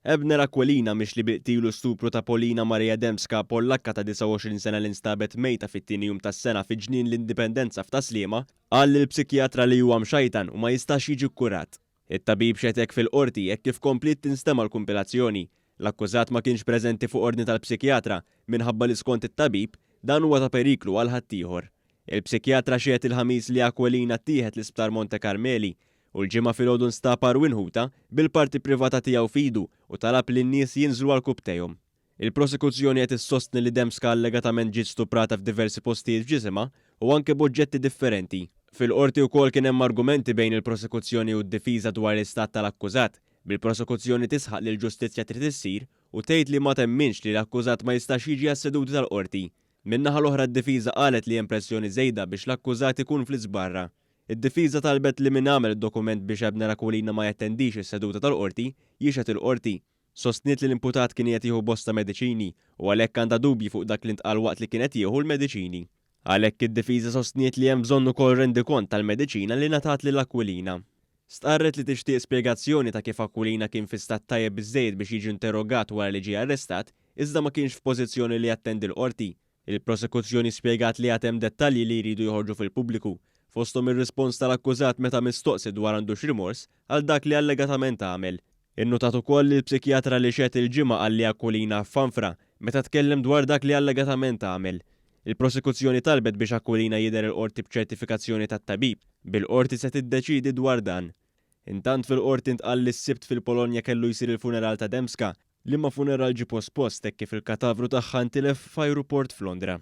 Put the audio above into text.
Ebner Aquilina mixli bi qtil u stupru ta' Polina Maria Dembska, Pollakka ta' 29 sena li nstabet mejta fit-tieni jum tas-sena fi Ġnien l-Indipendenza f'Tas-Sliema, qal lill-psikjatra li huwa mxajtan u ma jistax jiġi kkurat. It-tabib xetek fil-Qorti hekk kif kompliet tinstema' l-kumpilazzjoni. L-akkużat ma kienx preżenti fuq ordni tal-psikjatra minħabba li skont it-tabib, dan huwa ta' periklu għal ħaddieħor. Il-psikjatra xehed il-Ħamis li Aquilina ttieħed l-Isptar Monte Carmeli u l-Ġimgħa filgħodu nstab għarwien ħutha bil-parti privata tiegħu f'idu u talab li n-nies jinżlu għal kupptejhom. Il-prosekuzzjoni qed issostni li Dembska allegatament ġiet stuprata f'diversi postijiet f'ġisimha u anke b'oġġetti differenti. Fil-Qorti wkoll kien hemm argumenti bejn il-prosekuzzjoni u d-difiża dwar l-istat tal-akkużat, bil-prosekuzzjoni tisħaq li l-ġustizzja trid issir u tgħid li ma temminx li l-akkużat ma jistax jiġi għas-seduti tal-Qorti. Min-naħa l-oħra d-difiża qalet li hemm pressjoni żejda biex l-akkużat ikun fl-East Barra. Id-difiża talbet li min għamel id-dokument biex Abner Aquilina ma jattendix is-seduta tal-Qorti, jixhed il-Qorti. Sostniet li l-imputat kien qiegħed jieħu bosta mediċini u għalhekk għandha dubji fuq dak li ntqal waqt li kien qed jieħu l-mediċini. Għalhekk id-difiża sostniet li hemm bżonn ukoll rendikont tal-mediċina li ngħatat lil Aquilina. Stqarret li tixtieq spjegazzjoni ta' kif Aquilina kien fi stat tajjeb biżżejjed biex jiġi nterrogat wara li ġie arrestat, iżda ma kienx f'pożizzjoni li jattendi l-Qorti. Il-Prosekuzzjoni spjegat li għad hemm dettalji li jridu joħorġu fil-pubbliku, fosthom ir-rispons tal-akkużat meta mistoqsi dwar għandux rimors għal dak li allegatament għamel. Innutat ukoll li l-psikjatra li xehed il-Ġimgħa qalli Aquilina f'Fanfra meta tkellem dwar dak li allegatament għamel. Il-prosekuzzjoni talbet biex Aquilina jidher il-Qorti b'ċertifikazzjoni tat-tabib, bil-Qorti se tiddeċiedi dwar dan. Intant fil-Qorti ntqal li s-Sibt fil-Polonja kellu jsir il-funeral ta' Dembska, liema funeral ġie pospost hekk kif il-katavru tagħha ntilef f'ajruport f'Londra.